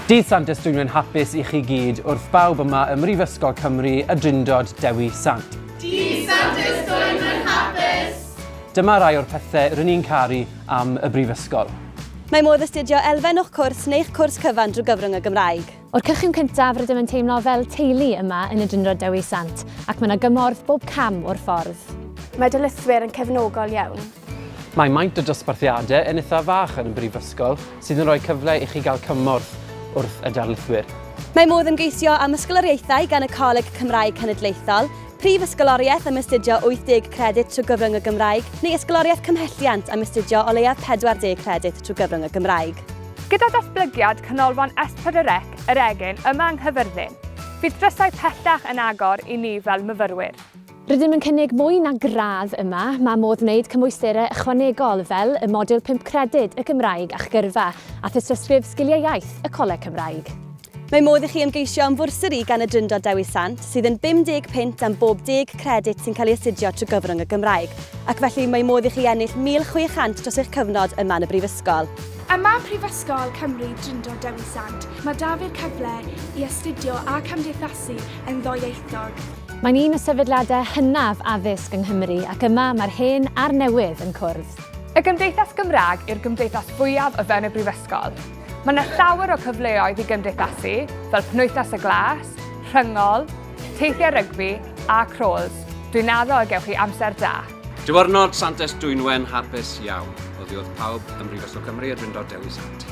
Dydd Sant Ys Dwynwen hapus i chi gyd wrth bawb yma ym Mhrifysgol Cymru y Drindod Dewi Sant. Dydd Sant Ys Dwynwen hapus! Dyma rai o'r pethau rŷn ni'n caru am y Brifysgol. Mae modd astudio elfen o'ch cwrs neu'ch cwrs cyfan drwy gyfrwng y Gymraeg. O'r cychwyn cyntaf rydym yn teimlo fel teulu yma yn y Drindod Dewi Sant ac mae 'na gymorth bob cam o'r ffordd. Mae darlithwyr yn cefnogol iawn. Mae maint y dosbarthiadau yn eithaf fach yn y Brifysgol, sydd yn rhoi cyfle i chi gael cymorth wrth y darlithwyr. Mae modd ymgeisio am ysgoloriaethau gan y Coleg Cymraeg Cenedlaethol, prif ysgoloriaeth am astudio 80 credyd trwy gyfrwng y Gymraeg, neu ysgoloriaeth cymhelliant am astudio o leiaf 40 credyd trwy gyfrwng y Gymraeg. Gyda datblygiad Canolfan Espedirec yr Egin yma yng Nghyfyrddin, bydd drysau pellach yn agor i ni fel myfyrwyr. Rydym yn cynnig mwy na gradd yma, mae modd wneud cymwysterau ychwanegol fel y modiwl pump credyd, y Gymraeg a'ch gyrfa, a thystysgrif Sgiliau Iaith, y Coleg Cymraeg. Mae modd i chi ymgeisio am fwrsari gan y Drindod Dewi Sant, sydd yn £50 am bob deg credyd sy'n cael ei astudio trwy gyfrwng y Gymraeg, ac felly mae modd i chi ennill £1,600 dros eich cyfnod yma yn y Brifysgol. Yma Prifysgol Cymru Drindod Dewi Sant, mae 'da fi'r cyfle i astudio a cymdeithasu yn ddwyieithog. Mae'n un o sefydliadau hynaf addysg yng Nghymru ac yma mae'r hen a'r newydd yn cwrdd. Y Gymdeithas Gymraeg yw'r gymdeithas fwyaf o fewn y Brifysgol. Mae yna llawer o cyfleoedd i gymdeithasu, fel Penwythnos y Glas, Rhyngol, teithiau rygbi a crawls. Dwi'n addo y gewch chi amser da. Diwrnod Santes Dwynwen hapus iawn. Oddi wrth pawb ym Mhrifysgol Cymru y Drindod Dewi Sant.